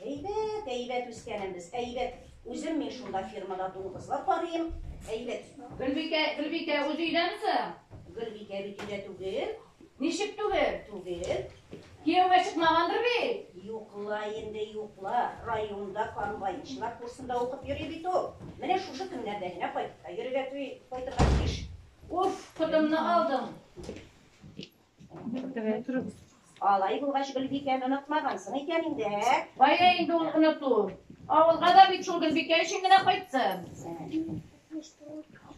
Әйбәт, әйбәт үскәнем без, әйбәт. Үзем мин шунда фирмада дуңгызлар карыйм. Әйбәт. Гөлбикә, Гөлбикә, үзе өйдәме соң? Гөлбикә бит өйдә түгел. Ничек түгел? Түгел. Кияүгә чыкмагандыр бит? Юкла инде, юкла. Районда комбайнчылар курсында укып йөри бит ул. Менә шушы көннәрдә генә кайтып та йөрергә кайтырга тиеш. Уф, котымны алдың. Алай булгач, Гөлбикәне онытмагансың икән инде, ә? Кая инде ул оныту? Авылга да бит шул Гөлбикә өчен генә кайтсын.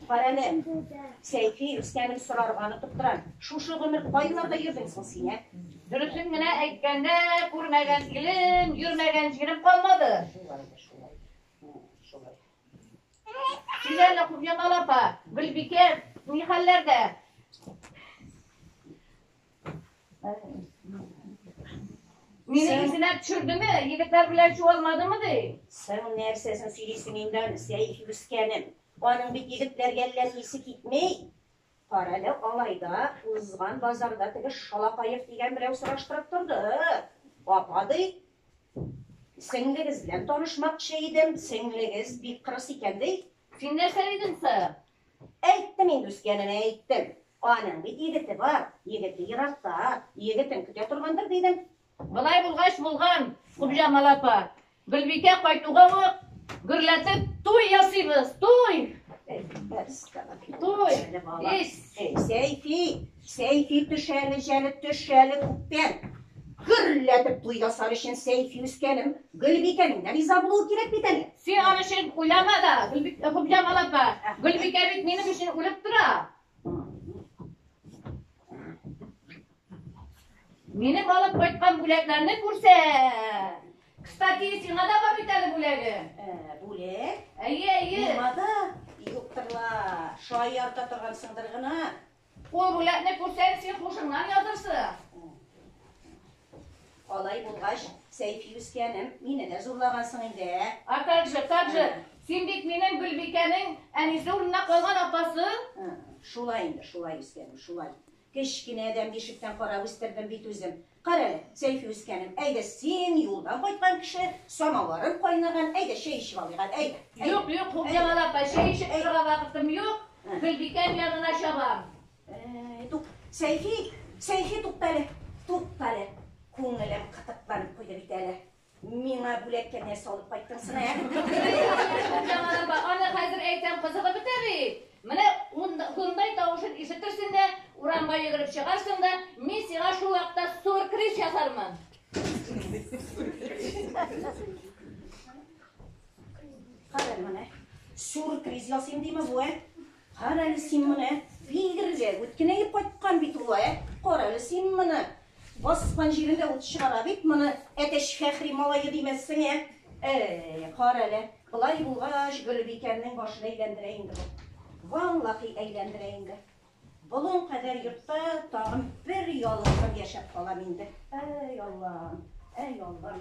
Карәле, Сәйфи үскәнен сорарга онытып тора. Шушы гомер кайларда йөрдең соң син, ә? Дөресен генә әйткәндә, күрмәгән илем, йөрмәгән җирем калмады. Шулай да шулай. Шулай. Силәле Кубьятал апа, Гөлбикә, ни хәлләрдә? Мине исенә төшердеме? Егетләр белән чуалмадымы ди? Соң нәрсәсен сөйлисең инде аны, Сәйфи үскәнем. Аның бит егетләргә әллә исе китми. Карале, алайда, узган базарда теге Шалапаев дигән берәү сораштырып торды. Апа, ди, сеңлегез белән танышмакчы идем, сеңлегез бик кырыс икән, ди. Син нәрсә дидең соң? Әйттем инде, үскәненә әйттем. Аның бит егете бар, егете еракта, егетен көтә торгандыр, дидем. Болай булгач булган, Купҗамал апа, Гөлбикә кайтуга ук гөрләтеп туй ясыйбыз, туй! Туй! Ис! Сәйфи, Сәйфи төшәле, җәлеп төшәле күптән. Гөрләтеп туй ясар өчен Сәйфи үскәнем, Гөлбикәнең дә риза булуы кирәк бит әле. Син аны өчен уйлама да, Купҗамал апа, Гөлбикә бит минем өчен үлеп тора. Минем алып кайткан бүләкләрне күрсә. Кстати, сиңа да бар бит әле бүләге. Ә, бүләк? Әйе, әйе. Миңа да юктыр ла. Шаярта торгансыңдыр гына. Ул бүләкне күрсәң, син хушыңнан язырсың. Алай булгач, Сәйфи үскәнем, мине дә зурлагансың инде, ә? А как же, как же? Син бит минем Гөлбикәнең әнисе урынына калган апасы. Шулай инде, шулай үскәнем, шулай. Кечкенәдән бишектән карап үстердем бит үзем. Кара әле, Сәйфи үскәнем, әйдә син юлдан кайткан кеше, самавырың кайнаган, әйдә чәй эчеп алыйк әле, әйдә. Юк, юк, Хуҗамал апа, чәй эчеп торырга вакытым юк. Гөлбикәм янына чабам. Әй, тук, Сәйфи, Сәйфи, тукта әле, тукта әле. Күңелем кытыкланып куйды бит әле. Миңа бүләккә нәрсә алып кайттың сына, ә? Җамалапа, аны хәзер әйтәм, кызыгы бетә бит. Менә шундай тавышын ишетерсең дә, урамга йөгереп чыгарсың да, мин сиңа шул вакытта суркрис ясармын. Кара менә, суркрис ясыйм димә бу, ә? Карале син моны, бигреле үткенәеп кайткан бит ул, ә? Карале син моны! Баскан җирендә ут чыгара бит моны, әтәч Фәхри малае димәссең, ә? Әй, карале, болай булгач, Гөлбикәмнең башын әйләндерә инде бу. Валлахи әйләндерә инде. Болын кадәр йортта тагын бер ялгызым яшәп калам инде. Әй, Аллам, әй, Аллам.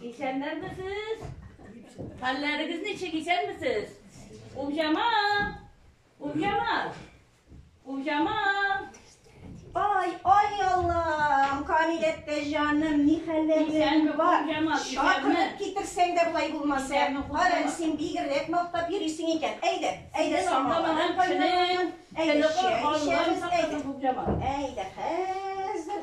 Исәннәрмесез? Хәлләрегез ничек, исәнмесез? Умҗама! Умҗама! Умҗама! Ай, ай Аллам, Камиләттә җаным, ни хәлләрең бар? Чакырып китерсәң дә болай булмаса. Кара, син бигрәк мактап йөрисең икән. Әйдә, әйдә самалардан кайнар. Әйдә, чәй эчәбез. Әйдә, әйдә, хәзер.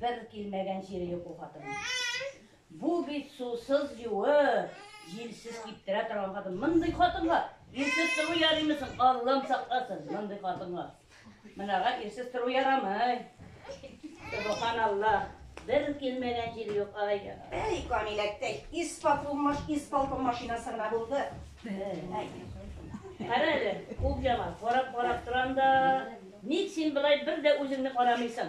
Бер килмәгән җире юк ул хатынның. Бу бит сусыз юы, җилсез киптерә торган хатын. Мондый хатынга ирсез тору ярыймы соң? Аллам сакласын, мондый хатынга. Мынага ирсез тору ярамый. Субханаллах. Бер килмәгән җир юк, ай. Әй, Камиләктәй, исполкомаш, исполком машинасы гына булды. Кара әле, кул яма, карап-карап торам да. Ник син былай бер дә үзеңне карамыйсың?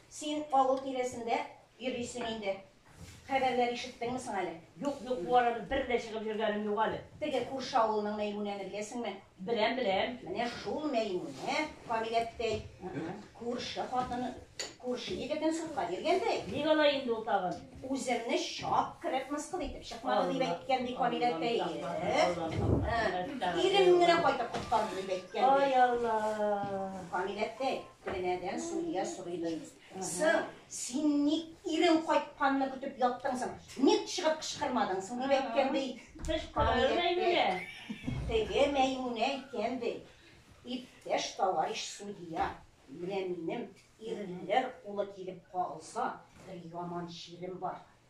Син авыл тирәсендә йөрисең инде. Хәбәрләр ишеттеңме соң әле? Юк, юк, бу арада бер дә чыгып йөргәнем юк әле. Теге күрше авылның Мәймүнәне беләсеңме? Беләм, беләм. Менә шул Мәймүнә, Камил әттәй, күрше хатыны, күрше егетен судка биргәндәй. Ник алай инде ул тагын? Үземне чак кереп мыскыл итеп чыкмады дип әйткән, ди Камил әттәй. Ирем генә кайтып коткарды дип әйткән. Ай Алла! Камил әттәй, Тәнәдән судья сорыйдыр. Сыр, син ник ирең кайтканны көтеп яттың соң? Ник чыгып кычкырмадың соң? Дип әйткән ди. Кычкырыр Мәймүнә. Теге Мәймүнә әйткән ди. Иптәш товарищ судья, менә минем ирләр кулы килеп кагылса, бер яман чирем бар.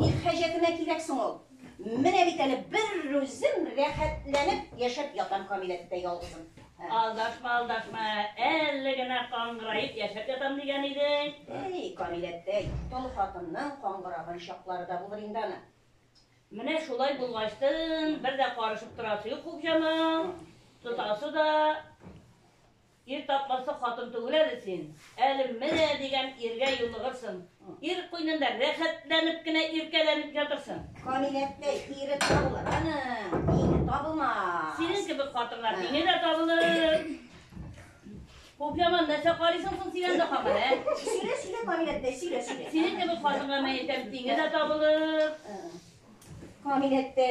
Ни хаҗәтемә кирәк соң ул? Менә бит әле берүзем рәхәтләнеп яшәп ятам Камиләттә ялгызым. Алдашма, алдашма, әле генә каңгыраеп яшәп ятам дигән идең. Әй, Камиләттә, тол хатынның каңгыраган чаклары да булыр инде аны. Менә шулай булгачтын, бер дә карышып торасы юк хуҗаның, тотасы да, Ир тапмаслык хатын түгел әле син. Әле менә дигән иргә юлыгырсың. Ир куенында рәхәтләнеп кенә иркәләнеп ятырсың. Камиләккә ире табылыр. Аны, ире табылмас. Синең кебек хатыннар миңе дә табылыр. Хуп яман нәрсә карыйсың соң син анда хамар, ә? Сөйлә, сөйлә, Камиләккә, сөйлә, сөйлә. Синең кебек хатынга мәетәм тиңе дә табылыр. Камиләккә.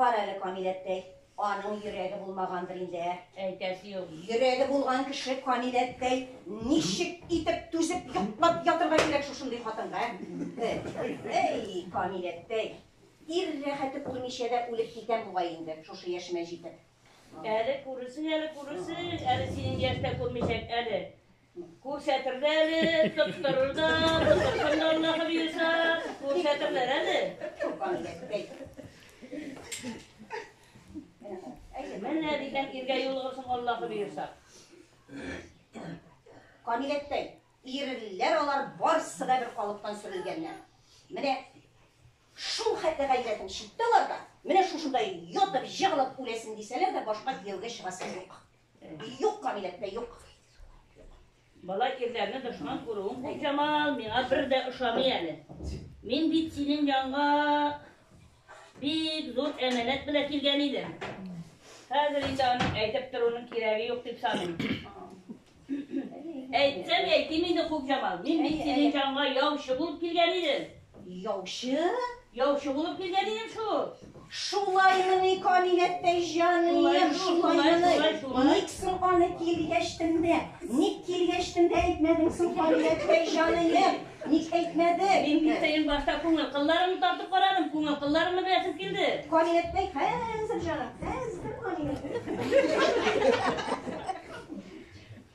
Кара әле, Камил әттәй, аның йөрәге булмагандыр инде, ә? Әйтәсе юк. Йөрәге булган кеше, Камил әттәй, ничек итеп түзеп йоклап ятырга кирәк шушындый хатынга, ә? Әй, Камил әттәй, ир рәхәте күрмичә дә үлеп китәм бугай инде, шушы яшемә җитеп. Әле күрерсең, әле күрерсең, әле синең яшьтә күрмичәк әле. Күрсәтерләр әле, тоттырыр да, тотырсын да Аллаһы боерса, күрсәтерләр әле. Менә дигән иргә юлыгырсың Аллаһы боерса. Камиләттәй, ирләр алар барсы да бер калыптан сөрелгәннәр. Менә шул хәтле гайрәтең читтә аларда, менә шушында ятып, җыгылып үләсен дисәләр дә башка кияүгә чыгасы юк. Юк, кабиләттә юк. Бала ирләрне дошман күрүең бик яман, миңа бер дә ошамый әле. Мин бит синең янга бик зур әмәнәт белән килгән идем. Хәзер инде аны әйтеп торуның кирәге юк дип саныйм. Әйтсәм әйтим инде Хукҗамал, мин бит синең янга яучы булып килгән идем. Яучы? Яучы булып килгән идем шул. Шулаймыни, Камиләттәй җаныем, шулаймыни? Ник соң аны килгәч тендә? Ник килгәч тендә әйтмәдең соң, Камиләттәй җаныем? Ник әйтмәде? Мин килсәем башта күңел кылларымны тартып карадым, күңел кылларымны беләсем килде. Камиләттәй, хәзер җаным, хәзер Камиләттәй.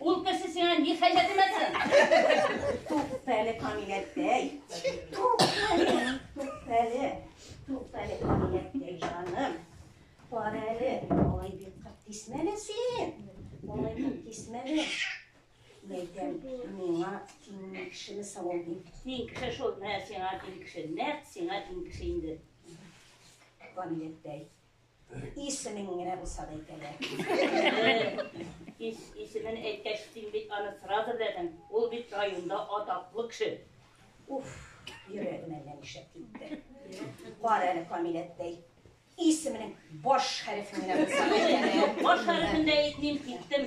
Ул кеше сиңа ни хәҗәт имәсен? Туктале Камиләттәй. Туктале, туктале. Туктале Камиләттәй җаным. Бар әле, алай бик кырт кисмәле син. Алай бик кисмәле. Мәйтәм, миңа тиң кешене савыл бит. Тиң кеше шул, менә сиңа тиң кеше. Нәкъ сиңа тиң кеше инде. Камиләттәй. Исемен генә булса да әйтә дә. Исемен әйткәч, син бит аны сразу беләсең. Ул бит районда атаклы кеше. Уф, йөрәгем әллә нишләп китте. Кара әле Камиләттәй. Исеменең баш хәрефен генә булса да әйтә дә. Баш хәрефен дә әйтмим, киттем.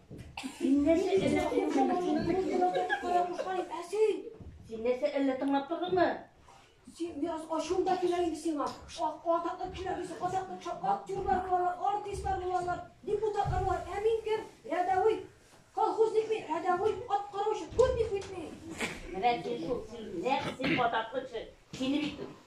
Син нәрсә әллә Син нәрсә әллә тыңлап тордыңмы? Син бераз ачуың да килә инде сиңа. Ак атаклы килә без атаклы актерлар булалар, артистлар булалар, депутатлар булалар. Ә мин кем? Рядовой колхозник мин, рядовой ат караучы, турник бит мин. Менә син шул син нәрсә атаклы кеше. Сине бит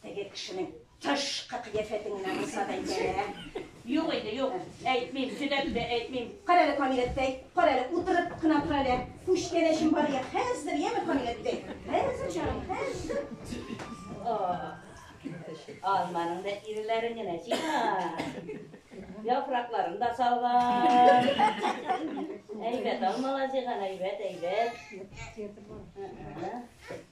Теге кешенең тышкы кыяфәтен генә булса да әйтәләр, ә? Юк инде, юк, әйтмим, төдәп тә әйтмим. Кара әле, Камил әттәй, кара әле, утырып кына тор әле. Күчтәнәчем бар ия, хәзер, яме, Камил әттәй? Хәзер, җаным, хәзер. О, алманың да ирләрен генә җыйган. Яфракларын да салган. Әйбәт алмалар җыйган, әйбәт, әйбәт.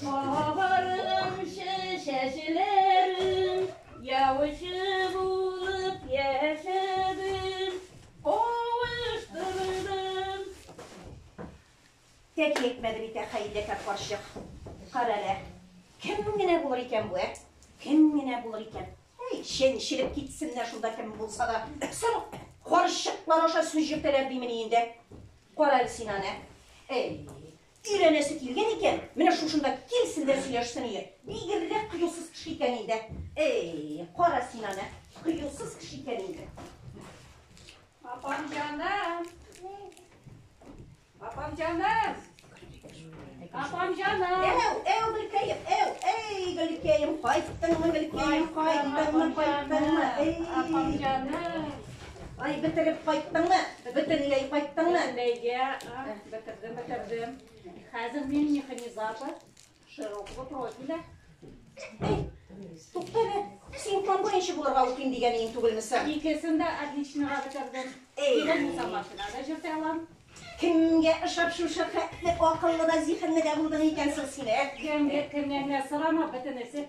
Кабарганчы чәчләрем, яучы булып яшәдем, кавыштырдым. Тәки әйтмәде бит, ә Хәйләкәр карчык. Карале, кем генә булыр икән бу, ә? Кем генә булыр икән? Әй, чәнчелеп китсеннәр шунда кем булса да. Соң карчыклар аша сүз йөртәләр димени инде. Карале син аны. Әй, Өйрәнәсе килгән икән, менә шушында килсен дә сөйләшсен иде. Бигеррәк кыюсыз кеше икән инде. Эй, кара син аны, кыюсыз кеше икән инде. Апам җаным. Апам җаным. Апам җаным. Әү, әү, Гөлкәем, әү, әй, Гөлкәем, кайттыңмы, Гөлкәем, кайттыңмы, кайттыңмы? Апам җаным. Ай, бетереп кайттыңмы? Бөтенләй кайттыңмы? Бөтенләйгә, а, бетердем, бетердем. Хәзер мин механизатор, широкого профиля. Эй, туктале, син план буенча булырга укыйм дигән иң түгелме син? Икесен дә отличныйга бетердем. Эй. Кирәк булса машина да җөртә алам. Кемгә ышап шушы хәтле акыллы да зиһенле дә булдың икән соң син, ә? Кемгә, кемнән генә сорама, бөтенесе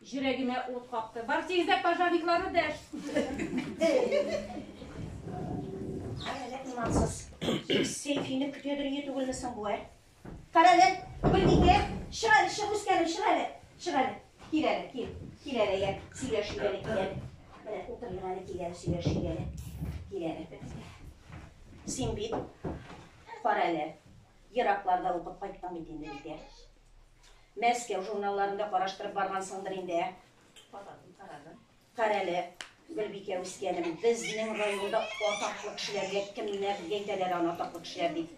Җөрәгемә ут капты. Бар тигезләп пожарникларны дәш. Карәләк имансыз. Сәйфине көтә дөрие түгелме соң бу, ә? Карәләк, Гөлбикә, чык әле, чык үскәнем, чык әле. Чык әле. Кил әле, кил. Кил әле, я. Сөйләшик әле, кил әле. Менә утырыйк әле, кил әле, сөйләшик әле. Кил әле. Син бит карәләк. Еракларда укып кайттың бит инде, Бикә. Мәскәү журналларын да караштырып баргансыңдыр инде, ә? Карадым, карадым. Карале, Гөлбикә үскәнем, безнең районда атаклы кешеләргә кемнәр әйтәләр аны атаклы кешеләр дип?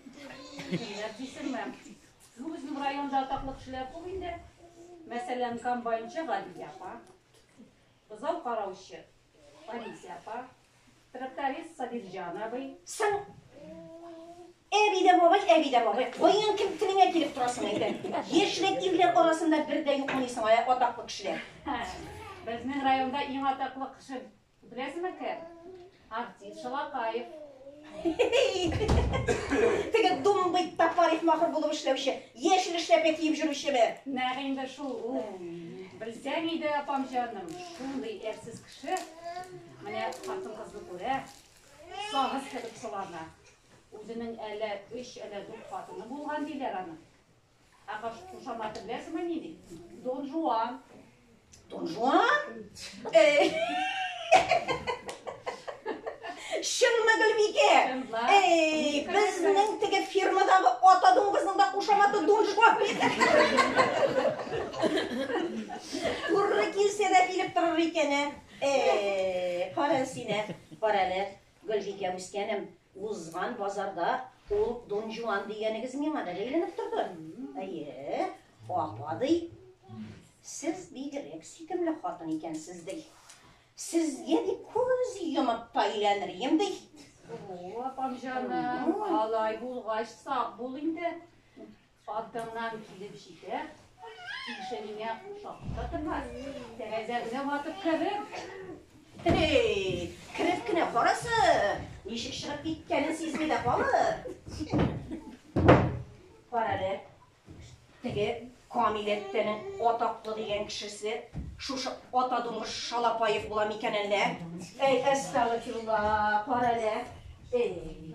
Кемнәр дисеңме? Ну, безнең районда атаклы кешеләр күп инде. Мәсәлән, комбайнчы Гадилә апа. Бозау караучы Алисия апа, тракторист Сабирҗан абый. Соң Әби дә бабай, әби дә бабай. Кайын кем телеңә килеп торасың әйдә. Яшьлек илдер арасында бер дә юк мыйсың ая атаклы кешеләр. Безнең районда иң атаклы кеше беләсеңме кем? Артист Шалапаев. Теге думбый тапариф махыр булып эшләүче, яшел эшләпә киеп жүрүчеме? Нәгы инде шул ул. Белсәң иде, апам җаным, шундый әрсез кеше. Менә хатын кызны күрә, сагыз кебек сылана. Үзенең әле өч, әле дүрт хатыны булган диләр аны. Ә кушаматы беләсеңме ни ди? Дон Жуан. Дон Жуан? Эй! Чынмы Гөлбикә? Эй, безнең теге фирмадагы ата дуңгызның да кушаматы Дон Жуан. Туры килсә дә килеп торыр икән, ә? Эй, кара син, ә? Кара әле. Гөлбикә үскәнем, узган базарда ул Дон Жуан дигәнегез миңа да бәйләнеп торды. Әйе, апа ди. Сез бигрәк сөйкемле хатын икәнсез ди. Сезгә дип күз йомып та өйләнерем ди. О, апам җаным, алай булгач сак бул инде. Артыңнан килеп җитә, тишегеңә шакта тыгар, тәрәзәңне ватып керер. Эй, кереп кенә карасы, ничек чыгып киткәнен сизми дә калыр. Карале, теге Камил әттәнең атаклы дигән кешесе шушы ата дуңгыз Шалапаев була микән әллә? Әй, әстәгфирулла, кара әле. Эй.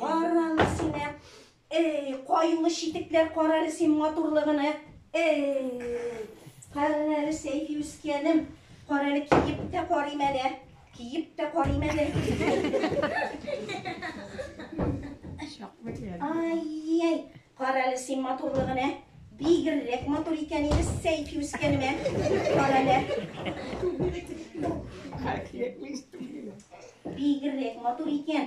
Караны син, ә. Эй, каюлы читекләр карары син матурлыгыны. Эй, каран әле сәйфи үскәнем. Караны киеп тә карыйм әле. Киеп тә карыйм әле. Ай, ай. Карале син матурлыгын ә! Бигррәк матур икән инде Сәйфи үскәнем ә! Карале! Бигррәк матур икән!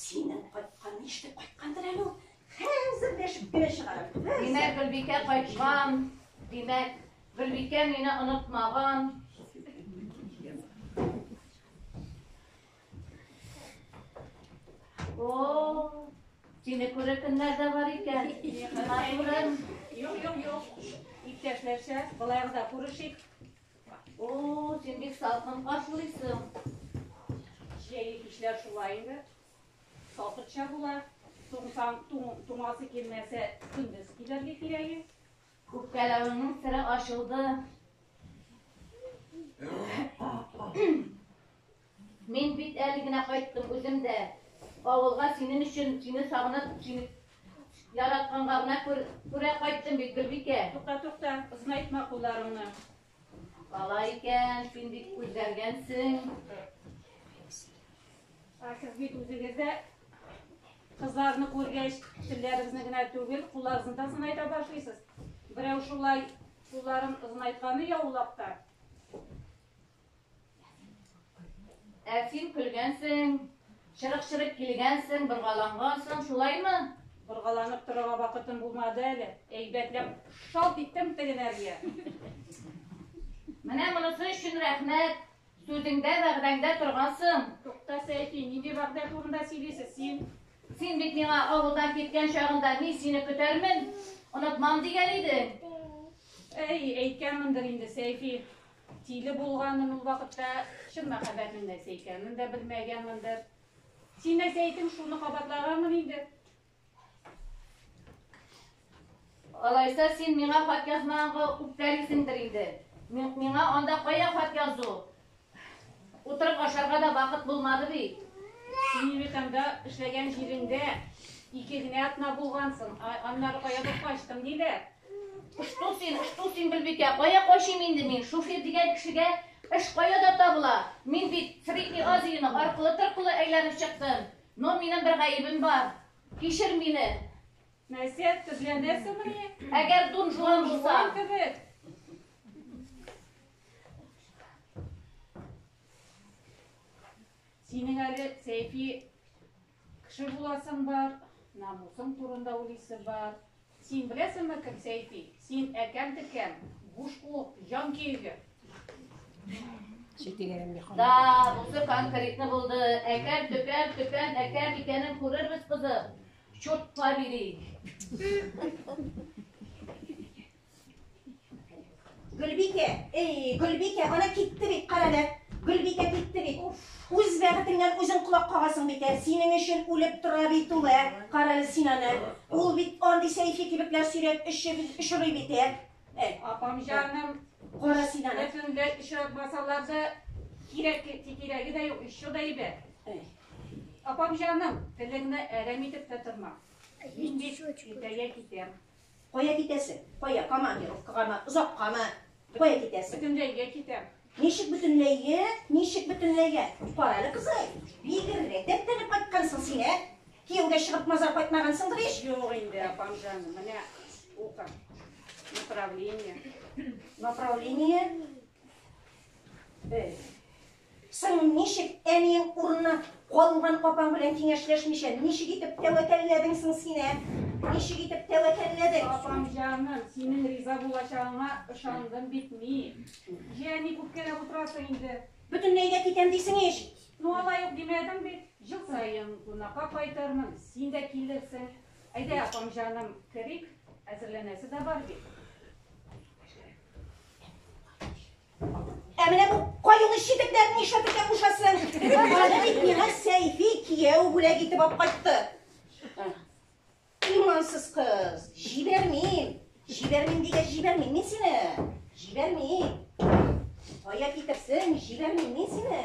Синең кайткан нишләп кайткандыр әле ул? Хәзер дә эш бер чыгарыр. Димәк, Гөлбикә кайткан. Димәк, Гөлбикә мине онытмаган. О, сине күрер көннәр дә бар икән. Матурым. Юк, юк, юк. Иптәшләрчә, былай да күрешик. О, син бик салкын каршылыйсың. Җәйге кичләр шулай инде. Салкынча була. Туңсаң, туңасы килмәсә, көндез килергә кирәге. Үпкәләвеңнең сере ачылды. Мин бит әле генә кайттым, үзем дә авылга синең өчен, сине сагынып, сине яратканга гына күрә кайттым бит, Гөлбикә. Тукта, тукта, озынайтма кулларыңны. Алай икән, син бик үзгәргәнсең. Ә сез бит үзегез дә кызларны күргәч, телләрегезне генә түгел, кулларыгызны да озынайта башлыйсыз. Берәү шулай кулларын озынайтканы яулап та. Ә син көлгәнсең, чырык-чырык килгәнсең, боргалангансың, шулаймы? Боргаланып торырга вакытым булмады әле. Әйбәтләп шалт иттем тегенәргә. Менә монысы өчен рәхмәт. Сүзеңдә, вәгъдәңдә торгансың. Тукта, Сәйфи, нинди вәгъдә турында сөйлисез син? Син бит миңа авылдан киткән чагында мин сине көтәрмен, онытмам дигән идең. Әй, әйткәнмендер инде, Сәйфи. Тиле булганын ул вакытта чын мәхәббәтнең нәрсә икәнен дә белмәгәнмендер. Син дә сәетең шуны кабатлаганмын инде. Алайса син миңа хат язмаганга үпкәлисеңдер инде. Миңа анда кая хат язу? Утырып ашарга да вакыт булмады бит. Син Небетаңда эшләгән җиреңдә ике генә атна булгансың, аннары каядыр качтың диләр. Что син, что син, Гөлбикә, кая качыйм инде мин? Шуфир дигән кешегә эш каяда табыла? Мин бит Средний Азияның аркылы-торкылы әйләнеп чыктым. Но минем бер гаебем бар. Кичер мине. Нәрсә, төрләнәсеңме? Әгәр дун жуан булса. Кебек. Синең әле сәйфи Кеше буласың бар, намусың турында уйлыйсы бар. Син беләсеңме кем Сәйфи? Син әкәм-текәм, буш кул, җан киеге. Да, бусы конкретно булды. Әкәм, төкәм, төкәм, әкәм икәнен күрербез кызы. Чурт побери. Гөлбикә, эй, Гөлбикә, ана китте бит, карале. Гөлбикә китте бит. Үз бәгытеңнән үзең колак кагасың бит, ә синең өчен үлеп тора бит ул, ә? Карале син аны. Ул бит андый сәйфи кебекләр сөйрәп өчеп очрый бит, ә? Ә, апам җаным, кара син аны. Бөтенләй очратмасалар да кирәк, кирәге дә юк, еще да әйбәт. Апам җаным, телеңне әрәм итеп тә торма. Мин бит иртәгә китәм. Кая китәсең? Кая? Командировкагамы? Озаккамы? Кая китәсең? Бөтенләйгә китәм. Ничек бөтенләйгә? Ничек бөтенләйгә? Кара әле, кызый, бигеррәк дәртләнеп кайткансың син, ә? Кияүгә чыгып мазар кайтмагансыңдыр ич? Юк инде, апам җаным, менә ука. Направление. Направление? Эй. Соң ничек әниең урынына калган апаң белән киңәшләшмичә, ничек итеп тәвәкәлләдең соң син, ә? Ничек итеп тәвәкәлләдең? Апам җаным, синең риза булачагыңа ышандым бит мин. Җә, ник үпкәләп утырасың инде? Бөтенләй дә китәм дисең ич! Ну, алай ук димәдем бит. Ел саен кунакка кайтырмын, син дә килерсең. Әйдә, апам җаным, керик, әзерләнәсе дә бар бит. Ә менә бу каюлы читекләрне нишләтергә кушасың? Аны бит миңа Сәйфи кияү бүләк итеп алып кайтты. Имансыз кыз, җибәрмим. Җибәрмим дигәч җибәрмим мин сине. Җибәрмим. Кая китерсең, җибәрмим мин сине.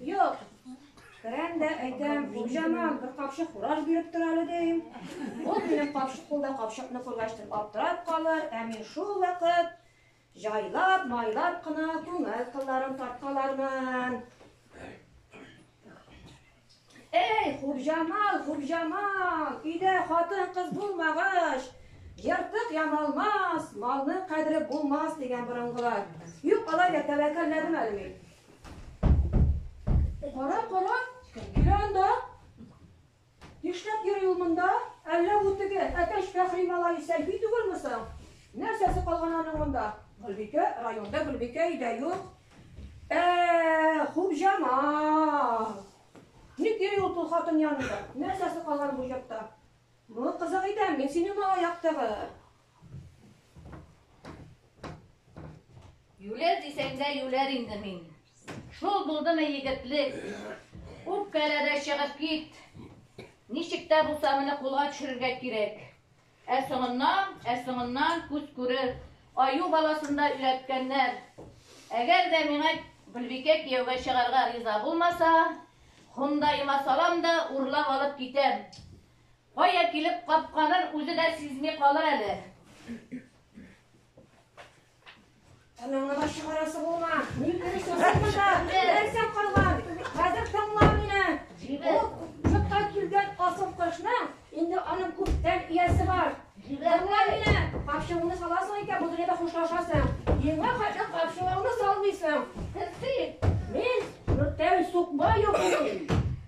Юк. Керәм дә әйтәм, хуҗаман, бер капчык фураж биреп тор әле дим. Ул минем капчык кулда капчыкны күргәч тик аптырап калыр, ә мин шул вакыт җайлап, майлап кына күңел кылларын тарткалармын. Эй, хуҗамал, хуҗамал, өйдә хатын-кыз булмагач, ертык ямалмас, малның кадере булмас дигән борынгылар. Юк, алай да тәвәккәлләдем әле мин. Кара, кара, килә анда. Нишләп йөри ул монда? Әллә бу теге әтәч Фәхри малае Сәлби түгелме соң? Нәрсәсе калган аның монда? Гөлбикә, районда Гөлбикә өйдә юк. Ә, Хубҗамал. Ник йөри ул тол хатын янында? Нәрсәсе калган бу йортта? Ну, кызык итәм, мин синең малай яктыгы. Юләр дисәңдә юләр инде мин. Шул булдымы егетлек? Үпкәләдә чыгып кит. Ничек тә булса моны кулга төшерергә кирәк. Ә соңыннан, ә соңыннан күз күрер. Аю баласында өйрәткәннәр. Әгәр дә миңа Гөлбикә кияүгә чыгарга риза булмаса, хондайыма салам да урлап алып китәм. Кая килеп капканын үзе дә сизми калыр әле. Анаңны да чыгарасы булма. Мин керешәм монда. Нәрсәм калган? Хәзер тыңла мине. Җибәр. Чыкка килгән асыл кошны инде аның күптән иясе бар. Җибәр. Тыңла мине. Капчыгыңны саласың икән, бу дөньяда хушлашасың. Миңа хәтле капчыгыңны салмыйсың. Сез син. Мин Нуртәй Сукбаев.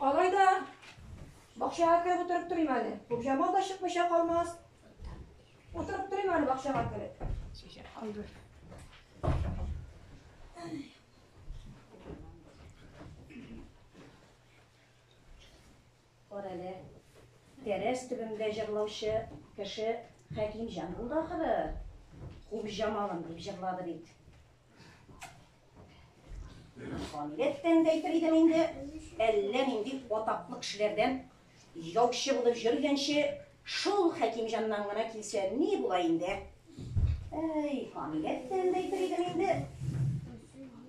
Алай да бакчага кереп утырып торыйм әле. Күпҗамал да чыкмыйча калмас. Утырып торыйм әле бакчага кереп. Кара әле. Тәрәз төбендә җырлаучы кеше Хәкимҗан булды ахыры. Күпҗамалым дип җырлады бит. Камиләттән дә әйтер идем инде, әллә нинди атаклы кешеләрдән яучы булып йөргәнче, шул Хәкимҗаннан гына килсә ни була инде? Әй, Камиләттән дә әйтер идем инде.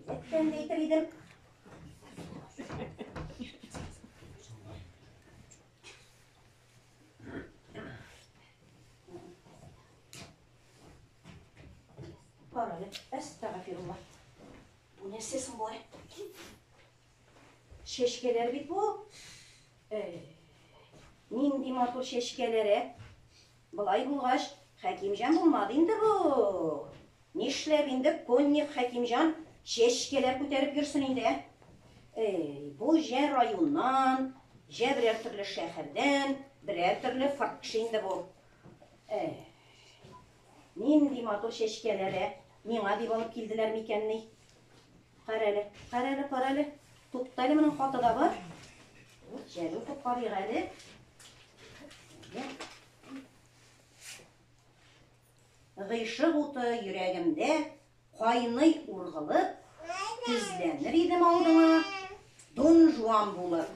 Камиләттән дә әйтер идем. Бар әле, әстәгәфирулла. Бу нәрсә соң болай? Чәчкәләр бит бу. Э, нинди матур чәчкәләр, ә? Былай булгач, Хәкимҗан булмады инде бу. Нишләп инде конник Хәкимҗан чәчкәләр күтәреп йөрсен инде, ә? Эй, бу җә районнан, җә берәр төрле шәһәрдән, берәр төрле фаркш инде бу. Әй. Нинди матур чәчкәләр, ә? Миңа дип алып килделәр микән ни? Карале, карале, карале. Туктале, моның хаты да бар. Вот чәле укып карыйк әле. Гыйшык уты йөрәгемдә кайный ургылып, тезләнер идем алдыңа, Дон Жуан булып.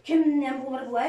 Кемнән булыр бу, ә?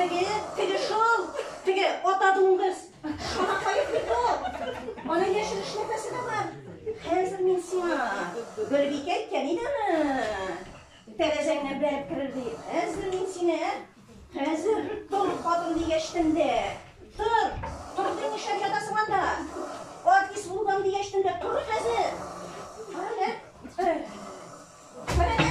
Теге, теге шул, теге ата дуңгыз. Шуңа кайып бит ул. Аның яшел эш нәфәсе дә бар. Хәзер мин сиңа Гөлбикә кәнидәме? Тәрәзәңне бәреп керер ди. Хәзер мин сине, хәзер тор хатын дигәч тендә. Тор, тор дим ишәк ятасың анда. Аткис булган дигәч тендә тор хәзер. Кара, кара. Кара,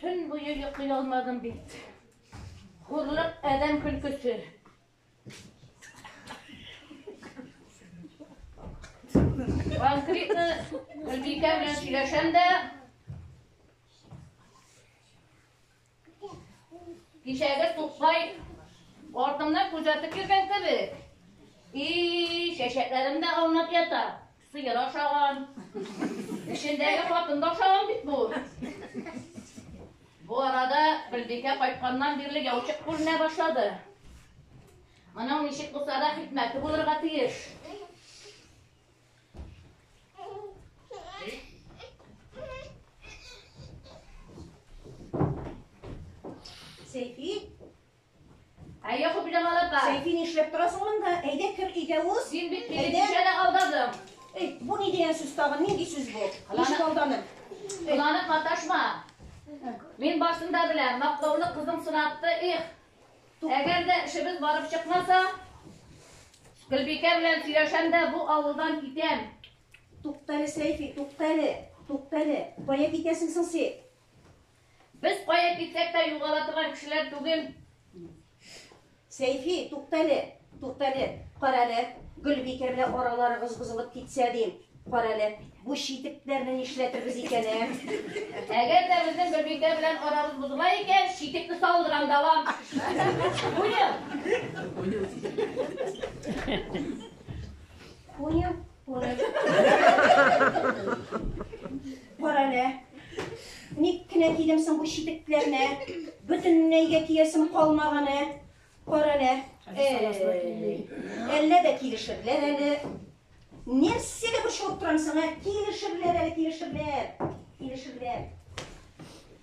Төн буе йоклый алмадым бит. Хурлык адәм көлкесе. Конкретно Гөлбикә белән сөйләшәм дә Кичәге туклай артымнан күзәтеп йөргән кебек. И, чәчәкләрем дә аунап ята. Сыер ашаган. Эчендәге хатын да ашаган бит бу. Бу арада Гөлбикә кайтканнан бирле яучык күренә башлады. Моның ничек булса да хикмәте булырга тиеш. Сәйфи, Әйе, Хуп Җамал апа. Сәйфи, нишләп торасың монда? Әйдә, кер өйгә уз. Син бит мине кичәдә алдадың. Эй, бу ни дигән сүз тагын? Нинди сүз бу? Ничек алданым? Кыланып маташма. Мин башында беләм, мактаулы кызың сынатты, их. Әгәр дә эшебез барып чыкмаса, Гөлбикә белән сөйләшәм дә бу авылдан китәм. Туктале, Сәйфи, туктале, туктале. Кая китәсең соң син? Без кая китсәк тә югала торган кешеләр түгел. Сәйфи, туктале, туктале, карале, Гөлбикә белән араларыгыз бозылып китсә, дим. Карале, бу читекләрне нишләтербез икән, ә? Әгәр дә безнең Гөлбикә белән арабыз бозыла икән, читекне салдырам да алам. Понял? Понял. Бар әле. Ник кенә кидем соң бу читекләрне? Бөтенләйгә киясем калмаганы. Бар әле. Әллә дә килешерләр әле. Нәрсәгә борчылып торам соң, ә? Килешерләр әле, килешерләр. Килешерләр.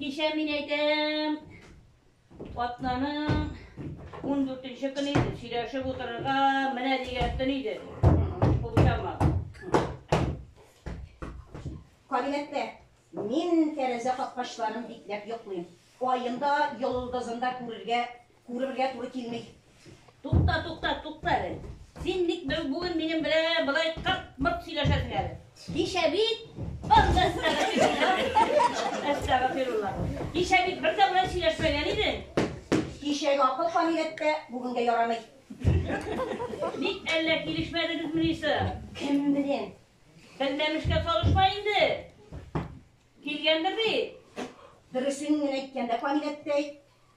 Кичә мин әйтәм, атнаның 14-нче көне иде, сөйләшеп утырырга менә дигән төн иде. Кулчама. Кабинетта мин тәрәзә капкачларын бикләп йоклыйм. Аен да, йолдызын да күрергә Күрергә туры килми. Тукта, тукта, тукта әле. Син ник бүген минем белән былай кырт-мырт сөйләшәсең әле? Кичә бит Анда әстәгәфирулла. Кичә бит бер дә белән сөйләшмәгән идең. Кичәге акыл фамиләттә бүгенгә ярамый. Ник әллә килешмәдегез минисы? Кем белән? Белмәмешкә салышма инде. Килгәндер бит. Дөресен генә әйткәндә фамиләттә әйт.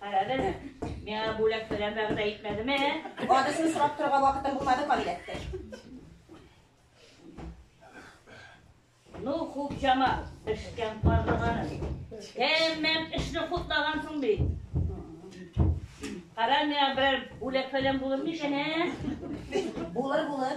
Карадым. Миңа бүләк фәлән вәгъдә итмәдеме? Адресын сорап торырга вакытым булмады, кабиләттәш. Ну, Хупҗама, пешкән карлыганым. Тәмам эшне хутлагансың бит. Кара, миңа берәр бүләк фәлән булыр микән, ә? Булыр, булыр.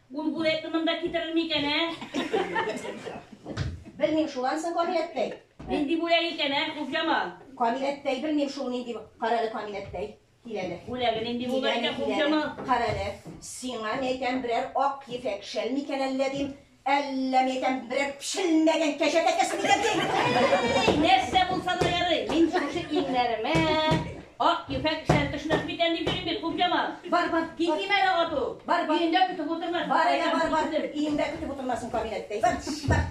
Булгур әйтте монда китерелми икән, ә? Белмим шул ансы камиләттәй. Нинди бүләк икән, ә, Хуфҗамал? Камиләттәй, белмим шул нинди. Карале камиләттәй. Киләле. Бүләге нинди булган икән, Хуфҗамал? Карале. Сиңа ни әйтәм, берәр ак ефәк шәл микән әллә дим. Әллә ни әйтәм, берәр пешелмәгән кәҗә тәкәсе микән дим. Нәрсә булса да ярый. Мин шушы иңнәремә Ак ефәк кешеләр төшмәс микән дип йөрим бит, Кукҗамал. Бар, бар. Китмим әле ату. Бар, бар. Өендә көтеп утырмасын. Бар әле, бар, бар. Өендә көтеп утырмасын кабинетта. Бар, бар.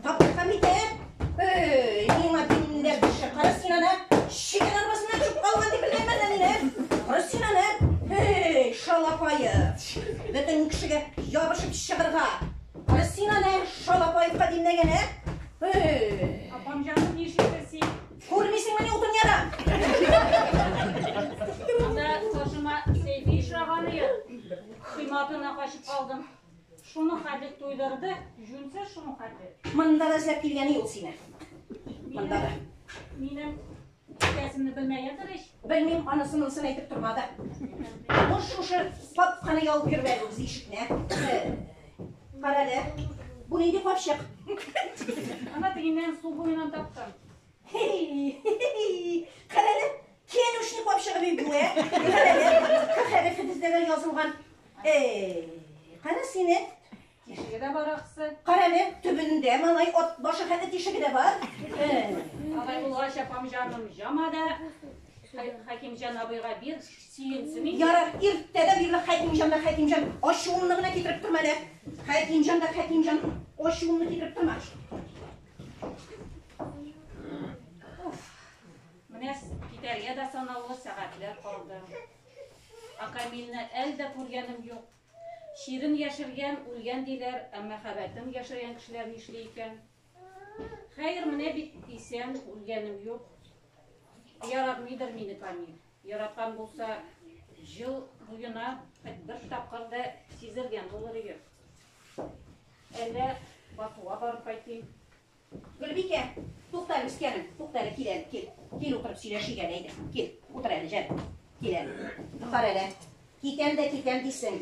Таптырган микән? Эй, миңа димләр төшә. Кара син аны. Шикәр арбасына кереп калган дип белгән мәллә мине. Кара син аны. Эй, шалапайы. Бөтен кешегә ябышып чыгырга. Кара син аны, шалапаевка димләгән, ә? Эй. Апам җаным, ничек син? Күрмисеңмени утын ярын? Анда каршыма Сәйфи очраган иде. Кыйматына качып калдым. Шуның хәтле туйдырды, җүнсез шуның хәтле. Монда да эзләп килгән ул сине. Монда да. Минем икәсемне белмәгәндер ич. Белмим, анысы монысын әйтеп тормады. Бу шушы папканы ялып йөрү әле үз ишекне. Карале. Бу нинди капчык? Ана тегеннән су буеннан таптым. Карале, кен ушник булып чыгып ибүе. Карале, кахәрә фидиздәгә язылган. Эй, кара сине. Тишеге дә бар аксы. Карале, төбендә малай от башы хәтта тишеге дә бар. Алай булгач, апам җаным, җама да. Хәкимҗан абыйга бир, сөенсен инде. Ярар, иртәдә бирле Хәкимҗан да Хәкимҗан ачуымны гына китереп торма әле. Хәкимҗан да Хәкимҗан ачуымны китереп торма. Менә китәргә дә санаулы сәгатьләр калды. Акамилне әл дә күргәнем юк. Чирен яшергән, үлгән диләр, ә мәхәббәтен яшергән кешеләр нишли икән? Хәер, менә бит исән, үлгәнем юк. Яратмыйдыр мине Камил. Яраткан булса, жыл буена бер тапкыр да сизелгән булыр иде. Әллә Бакуга барып кайтыйм. Гөлбикә, тукта әле, үскәнем, тукта әле, кил әле, кил. Кил, утырып сөйләшик әле, әйдә. Кил, утыр әле, җан. Кил әле. Кара әле. Китәм дә китәм дисең.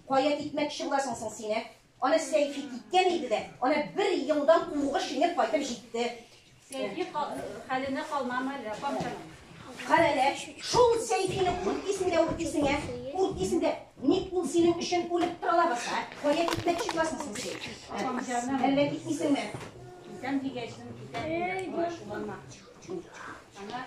Кая китмәкче буласың соң син, ә? Ана Сәйфи киткән иде дә, ана бер елдан уңыш җиңеп кайтып җитте. Сәйфи хәленә калмам әле, апамчан. Карәлә, шул Сәйфине курт исендә үк исеңә, курт исендә. Ник ул синең өчен үлеп тора лабаса? Кая китмәкче буласың син син? Апамчаным. Әллә китмисеңме? Китәм дигәчнең, китәм. Эй, баш булма. Ана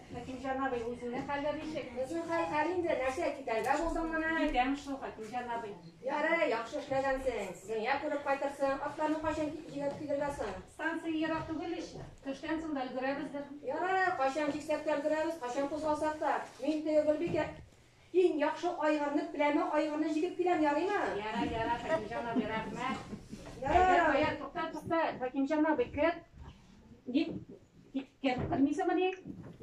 Хәкимҗан абый, үзеңнең хәлләр ничек? Безнең хәл хәл инде, нәрсә, китәргә булдың менә. Китәм шул, Хәкимҗан абый. Ярый, яхшы эшләгәнсең. Дөнья күреп кайтырсың. Атларны кайчан җигеп килергә соң? Станция ерак түгел ич. Төштән соң да өлгерәбездер. Ярый, кайчан җиксәк тә өлгерәбез, кайчан кузгалсак та. Мин теге Гөлбикә Иң яхшы айгырны, пләмә айгырны җигеп киләм, ярыймы? Ярар, ярар, Хәкимҗан абый, рәхмәт. Ярар абый. Әйдә, тукта, тукта, Хәкимҗан абый, кер. Ник киткәнен белмисеңмени?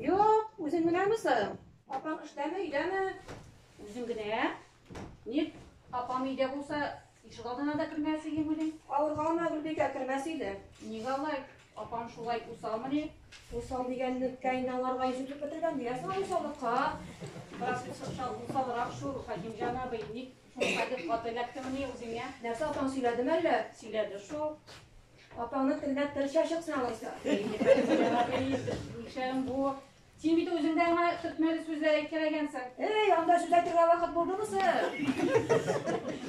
Юк, үзең генәме соң? Апаң эштәме, өйдәме? Үзем генә. Ник, апам өйдә булса, Ишегалдына да кермәс идеңмени? Авырга ана Гөлбикә кермәс иде. Нигә алай? Апаң шулай усалмыни? Усал дигәнне кәйнә аңарга йөз итеп бетергән диясең аны усаллыкка. Бераз усал, усалрак шул, Хәкимҗан абый, ник шунда дип каты эләктемени үзеңә? Нәрсә, апаң сөйләдеме әллә? Сөйләде шул. Апаңны телдә тел чәчексен алайса. Әйе, Хәкимҗан абый, нишләгән бу? Син бит үзең дә аңа төртмәле сүзләр әйткән икәнсең. Эй, анда сүз әйтергә вакыт булдымы соң?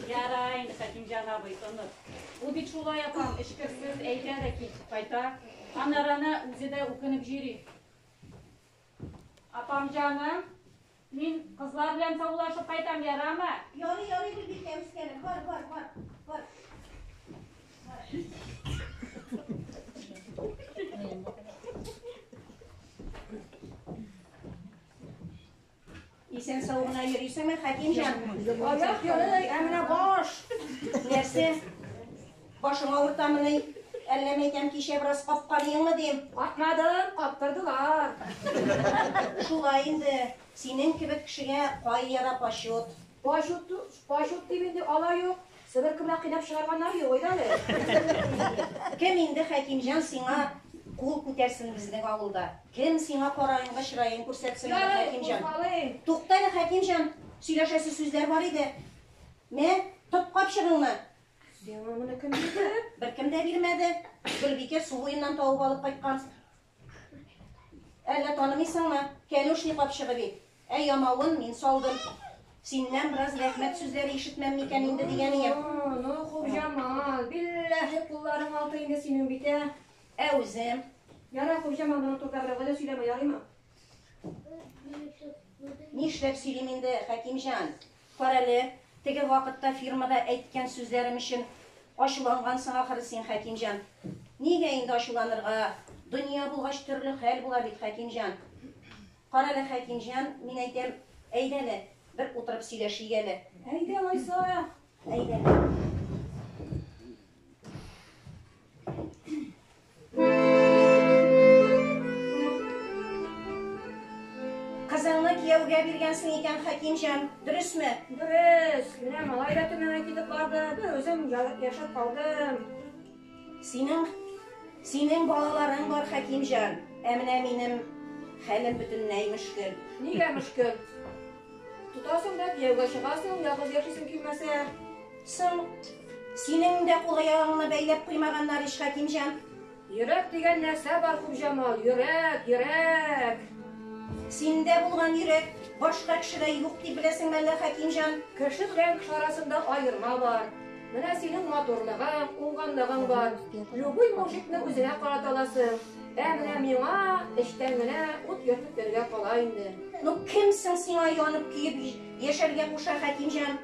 Яра инде, Хәкимҗан абый, оныт. Ул бит шулай апам, эчкерсез әйтә дә кит, кайта. Аннары ана үзе дә үкенеп җөри. Апам җаным, Мин кызлар белән саубулашып кайтам, ярамы? Ярый, ярый, Гөлбикә, үскәнем. Бар, бар, бар. Бар. Исән сау гына йөрисеңме, Хәкимҗан? Аяк ярый, ә менә баш. Нәрсә? Башың авыртамыни? Әллә мәйтәм кичә бераз капканыеңмы дим? Капмадым, каптырдылар. Шулай инде, синең кебек кешегә кайяда почет. Почет, почет дип инде алай юк, Себер кебек кыйнап чыгарганнар юк иде әле. Кем инде, Хәкимҗан, сиңа кул күтәрсен безнең авылда? Кем сиңа караенга чыраен күрсәтсен әле, Хәкимҗан? Тукта әле, Хәкимҗан, сөйләшәсе сүзләр бар иде. Мә, тот капчыгыңны, Сиңа моны кем бирде? Беркем дә бирмәде. Гөлбикә су буеннан табып алып кайткан. Әллә танымыйсыңмы? Кәнүшни капчыгы бит. Ә ямавын мин салдым. Синнән бераз рәхмәт сүзләре ишетмәм микән инде дигән ием. Ну, Хуҗамал, билләһи кулларың алты инде синең бит, ә? Ә үзем? Ярар, Хуҗамал, моның турында берәүгә дә сөйләмә, ярыймы? Нишләп сөйлим инде, Хәкимҗан? Карале, теге вакытта фирмада әйткән сүзләрем өчен ачулангансың ахры син, Хәкимҗан. Нигә инде ачуланырга, дөнья булгач төрле хәл була бит, Хәкимҗан. Карале, Хәкимҗан, мин әйтәм, әйдәле, бер утырып сөйләшик әле. Әйдә, алайса, әйдә. Кызыңны кияүгә биргәнсең икән, Хәкимҗан, дөресме? Дөрес. Менә малай да Төмәнгә китеп барды, бер үзем яшәп калдым. Синең синең балаларың бар, Хәкимҗан. Ә менә минем хәлем бөтенләй мөшкел. Нигә мөшкел? Тотасың да кияүгә чыгасың, ялгыз яшисең килмәсә. Соң, синең дә кул аягыңны бәйләп куймаганнар ич, Хәкимҗан. Йөрәк дигән нәрсә бар, Хуҗамал, йөрәк, йөрәк. Синдә булган йөрәк башка кешедә юк дип беләсеңме әллә, Хәкимҗан? Кеше белән кеше арасында аерма бар. Менә синең матурлыгың, уңганлыгың бар. Любой мужикны үзеңә карата аласың. Ә менә миңа эчтән генә ут йөртеп йөрергә кала инде. Ну кем соң сиңа янып көеп яшәргә куша, Хәкимҗан?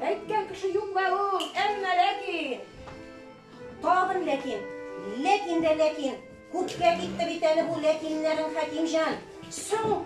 Әйткән кеше юк бе ул, әмма ләкин. Тагын ләкин, ләкин дә ләкин. Күпкә китте бит әле бу ләкиннәрең, Хәкимҗан. Соң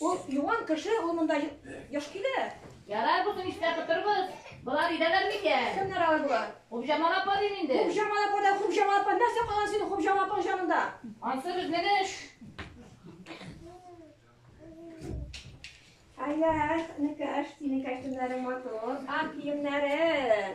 Ул юан кеше, ул монда яш килә. Ярар, бу көн эштә кытырбыз. Болар өйдәләр микән? Кемнәр алар болар? Хубжамал апа дим инде. Хубжамал апа да Хубжамал апа. Нәрсә калган синең Хубжамал апаң җанында? Ансы безнең эш. Ай-яй, энекәш, синең кәчтүмнәрең матур, ак киемнәрең.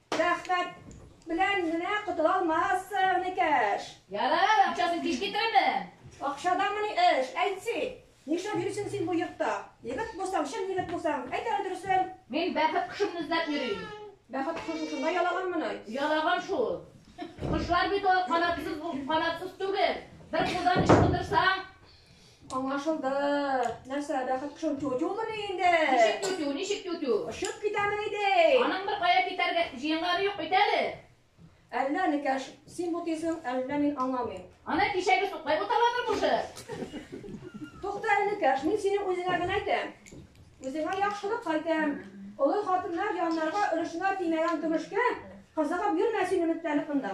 Рәхмәт белән генә котыла алмассың, Никәш. Ярар, акчасын кич китерермен. Акчадамыни эш, әйтси. Нишләп йөрисең син бу йортта? Егет булсаң, чын егет булсаң, әйт әле дөресен. Мин бәхет кошымны эзләп йөрим. Бәхет кошы шушында ялаганмыни? Ялаган шул. Кошлар бит ул канатсыз, канатсыз түгел. Бер кулдан ычкындырсаң, Аңлашылды. Нәрсә, бәхет кешем тю-тюмыни инде? Ничек тю-тю, ничек тю-тю? Очып китәме иде? Аның бер кая китәргә җыенганы юк бит әле. Әллә никәш, син бу тисең, әллә мин аңламыйм. Аны кичәге суклай буталадыр бушы. Тукта әле, Кәш, мин синең үзеңә генә әйтәм. Үзеңә яхшылык кайтам. Олы хатыннар яннарга өлешенә тимәгән көмешкә кызыгып йөрмә син өметләнеп монда.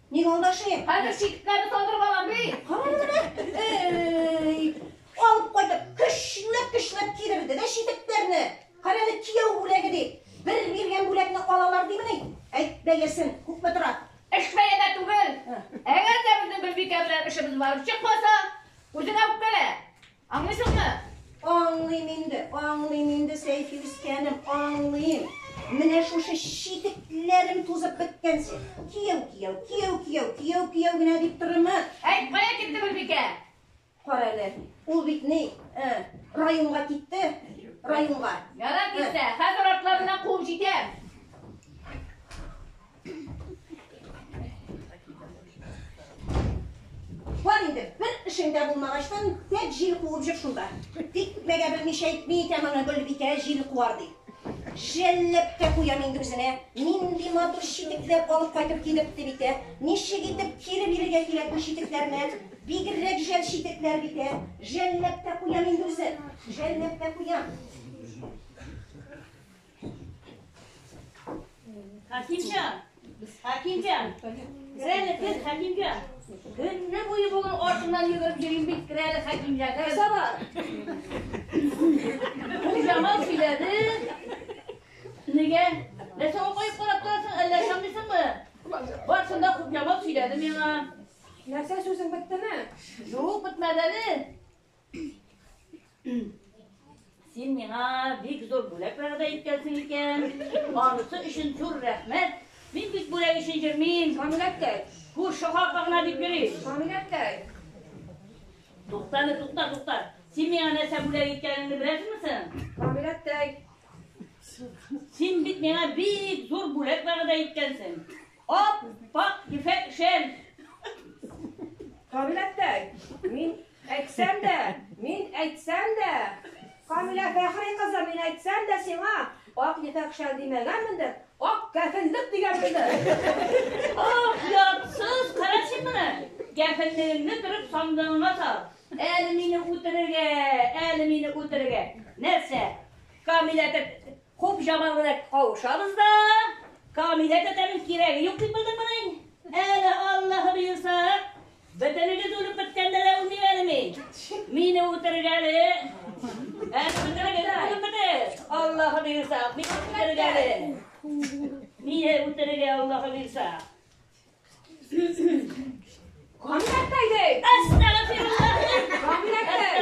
Ник алдашыйм? Хәзер чикетләрне салдырып алам би. Кара гына. Эй! Алып кайтып, көчләп-көчләп кидерде дә читекләрне. Кара әле кияү бүләге дип. Бер биргән бүләкне алалар димени? Әйт бәясен, күпме тора? Эш бәядә түгел. Әгәр дә безнең Гөлбикә белән эшебез барып чыкмаса, үзеңә үпкәлә. Аңлыйсыңмы? Аңлыйм инде, аңлыйм инде, Сәйфи үскәнем, аңлыйм. Менә шушы читекләрең тузып беткәнче, кияү, кияү, кияү, кияү, кияү, кияү генә дип торырмы? Әйт, кая китте Гөлбикә? Кара әле, ул бит ни, э, районга китте, районга. Ярар китсә, хәзер артларыннан куып җитәм. Бар инде, бер эшең дә булмагачтан, тәк җил куып җөр шунда. Тик мәгә белмичә әйтми икән аны Гөлбикә җил куар ди. Жәлләп тә куям инде үзенә. Нинди матур читекләр алып кайтып килепте бит, ә? Ничек итеп кире бирергә кирәк бу читекләрне? Бигрәк жәл читекләр бит, ә? Жәлләп тә куям инде үзен. Жәлләп тә куям. Хәкимҗан! Хәкимҗан! Керәле кыз, Хәкимҗан! Көнне буе буның артыннан йөгереп йөрим бит, керәле Хәкимҗан. Нәрсә бар? Бу Җамал сөйләде. Нигә? Нәрсә укып карап торасың, әллә ышанмыйсыңмы? Бар шунда күп Җамал сөйләде миңа. Нәрсә сүзең беттеме? Юк, бетмәде әле. Син миңа бик зур бүләк вәгъдә иткәнсең икән. Анысы өчен зур рәхмәт. Мин бит бүләк өчен йөрмим. Камиләткәй. Күрше халкы гына дип йөри. Камиләткәй. Туктаны, тукта, тукта. Син миңа нәрсә бүләк иткәнеңне беләсеңме син? Камиләткәй. Син бит миңа бик зур бүләк вәгъдә иткәнсең. Ап, пак, ефәк шәл. Камилә әптә, мин әйтсәм дә, мин әйтсәм дә, Камилә Фәхри кызы, мин әйтсәм дә сиңа, ак ефәк шәл димәгәнмендер, ак кәфенлек дигәнмендер. Ох, ярсыз, кара син моны. Кәфенлегеңне төреп сандыгыңа сал. Әле мине үтерергә, әле мине үтерергә. Нәрсә? Камилә Хуп җаман гына кавышабыз да, Камилә тәтәнең кирәге юк дип белдең мени? Әле Аллаһы боерса, бөтенегез үлеп беткәндә дә үлмим әле мин. Мине үтергәле. Әле бөтенегез үлеп бетер. Аллаһы боерса, мин үтергәле. Мине үтерергә Аллаһы боерса. Камилә әйтәйдек. Әстәгфируллаһ. Камилә әйтәйдек.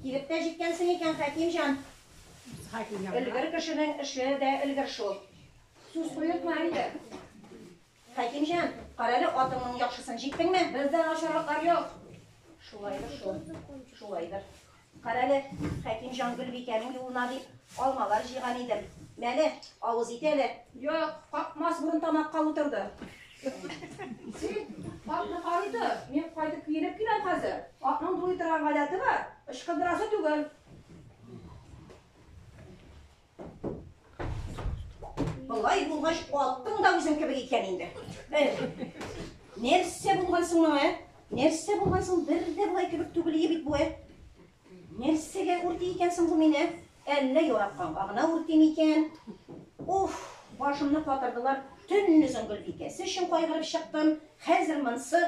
Килеп тә җиткәнсең икән, Хәкимҗан. Хәкимҗан. Өлгер кешенең эше дә өлгер шул. Сүз куертма инде. Хәкимҗан, карале атыңның яхшысын, җиттеңме? Бездә начарлыклар юк. Шулайдыр шул. Шулайдыр. Карале, Хәкимҗан Гөлбикәнең юлына дип алмалар җыйган идем. Мәле, авыз ит әле. Юк, какмас бурын тамакка утырды. Атны карый тор, мин кайтып киенеп киләм хәзер. Атның дулый торган гадәте бар, ычкындырасы түгел. Болай булгач, аттың да үзең кебек икән инде. Нәрсә булган соң моңа? Нәрсә булган соң бер дә болай кебек түгел бит бу. Нәрсәгә үрти икән соң бу мине? Әллә яраткан гына үрти микән? Уф, башымны катырдылар. Төннезен Гөлбикәсе өчен кайгырып чыктым. Хәзер монсы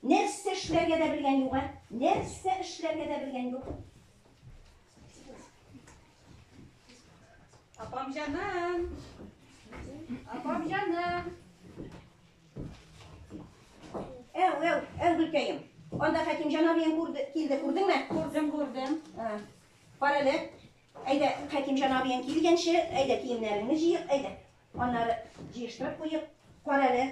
нәрсә эшләргә дә белгән юк, нәрсә эшләргә дә белгән юк. Апам җаным! Апам җаным! Әу, әу, әу, Гөлкәем. Анда Хәким җан абыең күрде, килде, күрдеңме? Күрдем, күрдем. Кара әле. Әйдә, Хәким җан абыең килгәнче, әйдә киемнәреңне җыйык, әйдә. Аннары җыештырып куеп, Карале,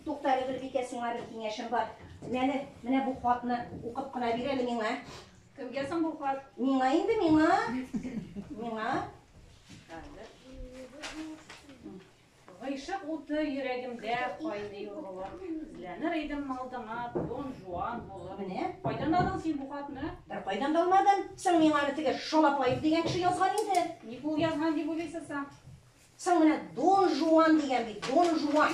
Туктале, Гөлбикә, сиңа бер киңәшем бар. Менә, менә бу хатны укып кына бир әле миңа. Кемгә соң бу хат? Миңа инде, миңа. Миңа. Гыйшык уты йөрәгемдә кайный ургылып, эзләнер идем алдыңа Дон Жуан булып. Менә. Кайдан алдың син бу хатны? Бер кайдан да алмадым. Соң миңа аны теге Шалапаев дигән кеше язган инде. Ник ул язган дип уйлыйсыз соң? Соң менә Дон Жуан дигән бит, Дон Жуан.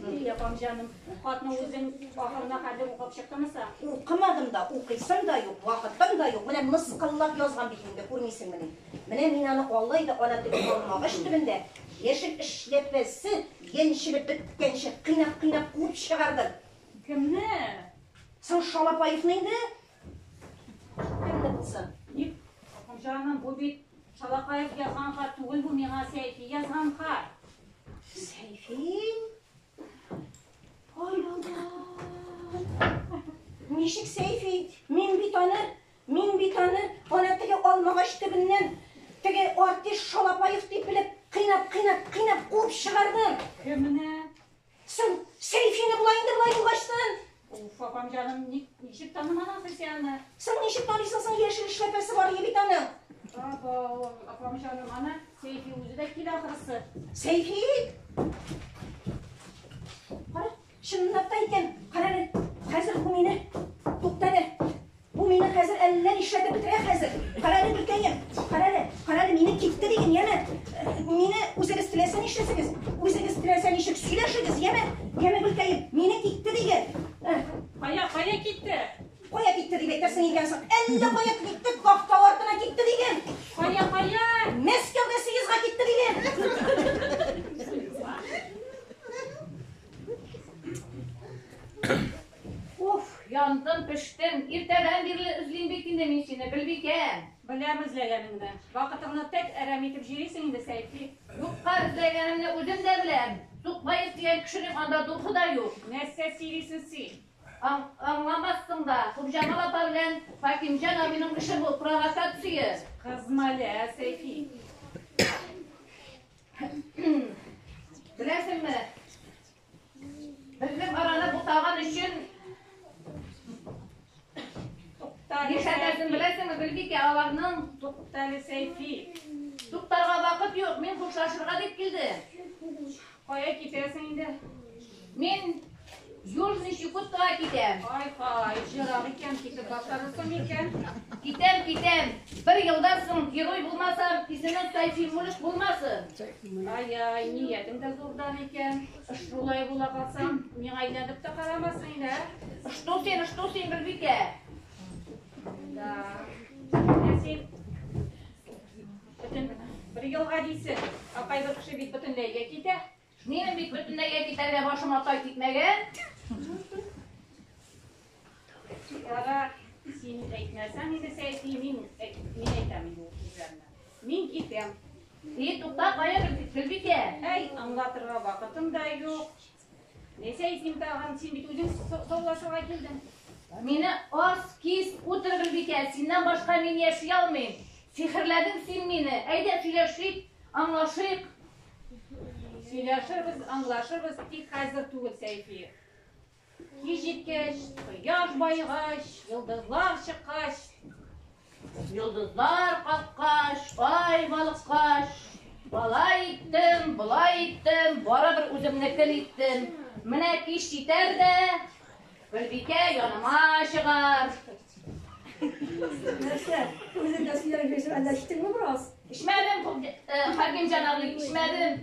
Ди, апам җаным, хатны үзең ахырына кадәр укып чыктыңмы соң? Укымадым да, укыйсым да юк, вакытым да юк. Менә мыскыллап язган бит инде, күрмисеңмени? Менә мин аны алай да ана теле калмагач төбендә, яшел эшләпәсе яньчелеп беткәнче, кыйнап-кыйнап куып чыгардым. Кемне? Соң Шалапаевны инде. Җаным, бу бит Шалакаев язган хат түгел, бу миңа Сәйфи язган хат. Сәйфи? Ай, Аллах! Ничек Сәйфи? Мин бит аны, мин бит аны, ана теге алмагач төбеннән, теге артист Шалапаев дип белеп, кыйнап, кыйнап, кыйнап куып чыгардым. Кемне? Соң, Сәйфине болай инде болай югачтын. Уф, апам җаным, ник, ничек таныман ахры син аны? Соң ничек таныйсың соң, яшел эшләпәсе бар ие бит аның. Абау, апам җаным, ана Сәйфи үзе дә килә ахрысы. Сәйфи? Кара, чынлап та икән. Кара әле, хәзер бу мине туктады. Бу мине хәзер әллә нишләтеп бетерә хәзер. Карале, гөлкәем, карале, карале, мине китте диген, яме. Мине үзегез теләсә нишләсегез, үзегез теләсә ничек сөйләшегез, яме, яме, гөлкәем, мине китте диген. Кая, кая китте? Кая китте дип әйтәсең икән соң? Әллә кая китте, кафта артына китте диген. Кая, кая? Мәскәүгә сигезга китте диген. Уф, яндым, пештем. Иртәдән бирле эзлим бит инде мин сине, Гөлбикә. Беләм эзләгәнеңне. Вакытыңны тәк әрәм итеп җөрисең инде, Сәйфи. Юкка эзләгәнемне үзем дә беләм. Тукмаев дигән кешенең анда духы да юк. Нәрсә сөйлисең син? Аңламассың да. Кубҗамал апа белән Хәкимҗан абыйның эше бу, провокация. Кызма әле, ә, Сәйфи. Беләсеңме, Безнең араны бутаган өчен Нишләтәсен беләсеңме, Гөлбикә, аларның туктале сәйфи. Туктарга вакыт юк, мин хушлашырга дип килдем. Кая китәсең инде? Мин Южный Чукотка китәм. Ай хай, җырак икән, китеп башларысың икән. Китәм, китәм. Бер елдан соң герой булмасам, исемем Сәйфи Мулик булмасын. Ай-яй, ниятең дә зурдан икән. Шулай була калсаң, миңа әйләнеп тә карамассың инде, ә? Что син, что син, Гөлбикә? Да. Ә син бөтен бер елга дисең, ә кайбер кеше бит бөтенләйгә китә. Минем бит бөтенләйгә китәргә башыма тай типмәгән. Чикларда син әйтмәсәң иде, Сәйфи, мин әйтәм инде ул сүзләрне. Мин китәм. И, тукта, кая Гөлбикә? Әй, аңлатырга вакытым да юк. Не Сәйфим тагын, син бит үзең саулашырга килдең. Мине ас, кис, утыр Гөлбикә, синнән башка мин яши алмыйм. Сихерләдең син мине. Әйдә сөйләшик, аңлашыйк. Сөйләшербез, аңлашырбыз, тик хәзер түгел, Сәйфи. Кич җиткәч, кояш баегач, йолдызлар чыккач, йолдызлар каккач, ай балыккач, Алай иттем, болай иттем, барыбер үземнекен иттем. Менә кич җитәр дә, Гөлбикә яныма чыгар. Нәрсә? Үзең дә сөйләп бирсәң, әллә эчтеңме бераз? Эчмәдем, Хакимҗан абый, эчмәдем.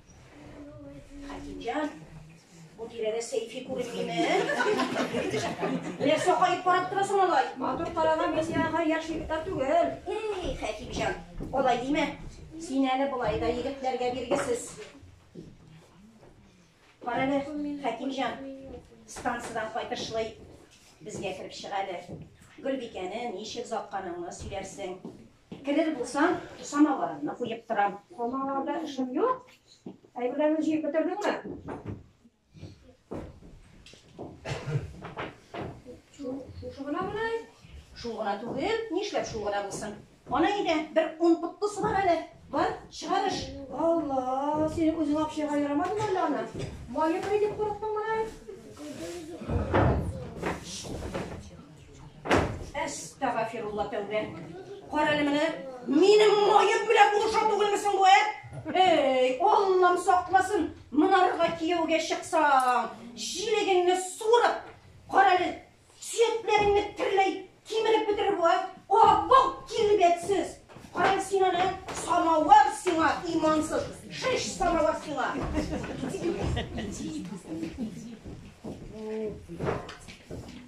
Хәкимҗан, бу тирәдә сәйфи күренмиме? Нәрсә кайып карап торасың алай? Матур караган бәсиягә яшь егетләр түгел. Эй, Хәкимҗан, алай димә. Син әле болай да егетләргә биргесез. Кара әле, Хәкимҗан, станциядән кайтышлый безгә кереп чыга әле. Гөлбикәне ничек затканыңны сөйләрсең. Керер булсаң, самоварымны куеп торам. Самоварда эшем юк. Әйберләрне җыеп бетердеңме? Шушы гына гына? Шул гына түгел, нишләп шул гына булсын? Ана иде, бер ун пыттысы бар әле. Бар, чыгарыш. Алла, синең үзең апшыга ярамадымы әллә ана? Майы кай дип курыктың мына? Әстәгафирулла тәүбә. Карале менә, минем маем белән булыша түгелме соң бу, ә? Эй, Аллам сакласын, монарга кияүгә чыксаң, җилегеңне сурып, карале, сөякләреңне терләй кимереп бетерер бу, ә? Абау килбәтсез. Карале син аны, самавар сиңа, имансыз. Шеш самавар сиңа.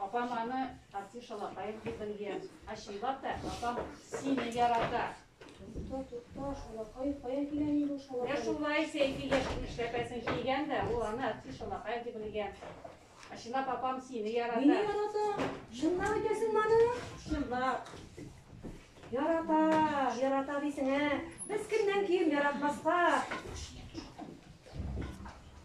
Апам аны артист шалакаем дип белгән. Ә чынлап та, апам сине ярата. Тукта, тукта, шалакаем каян килә инде ул шалакаем? Менә шулай сәйфи яшен эшләпәсен кигән дә, ул аны артист шалакаем дип белгән. Ә чынлап апам сине ярата. Мине ярата. Чынлап әйтәсең моны? Чынлап. Ярата, ярата дисең, ә? Без кемнән ким яратмаска?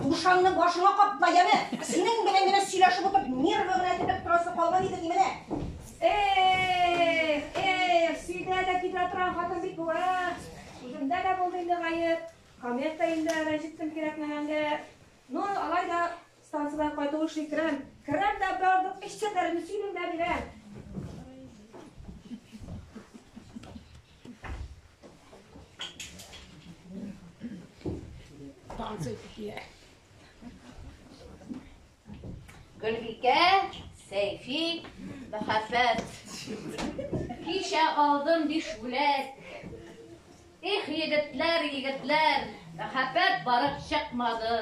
Юшаңны башыңа капла, яме! Синең белән генә сөйләшеп утырып, нервы гына тибеп торасы калган иде ди менә. Эх, эх, сөйдә дә китә торган хатын бит бу, ә? Үземдә дә булды инде гаеп. Комет та инде рәнҗеттем кирәкмәгәнгә. Ну, алай да станциядән кайту эшли керәм. Керәм дә бардык, эш чәтәрен сөйлим дә бирәм. Гөлбикә, Сәйфи, Мәхәфәт. Кичә алдым биш бүләк. Их, егетләр, егетләр, мәхәббәт барып чыкмады.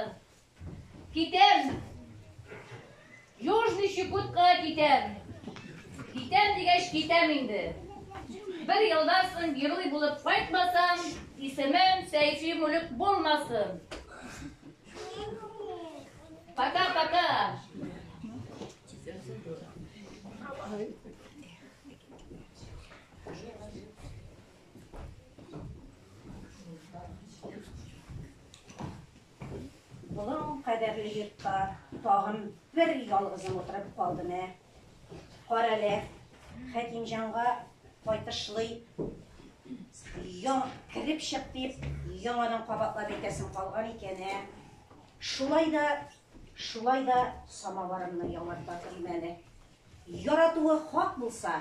Китәм. Южный Чукотка китәм. Китәм дигәч китәм инде. Бер елдан соң герой булып кайтмасам, исемем Сәйфи Мүлек булмасын. Пока-пока. Болын кадәрле йортта тагын бер ялгызым утырып калдым, ә. Карале, Хәкимҗанга кайтышлый яң кереп чык дип, яңадан кабатлап әйтәсем калган икән, ә. Шулай да, шулай да самаварымны яңарта күрмәде. Яратуы хак булса,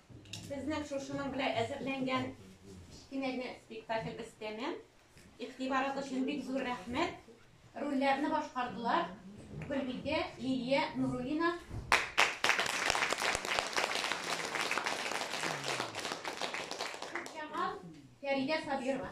Безнең шушының белән әзерләнгән кечкенә генә спектакльбез тәмам. Игътибарыгыз өчен бик зур рәхмәт. Рольләрне башкардылар Гөлбикә, Лилия, Нурулина. Җамал, Фәридә Сабирова.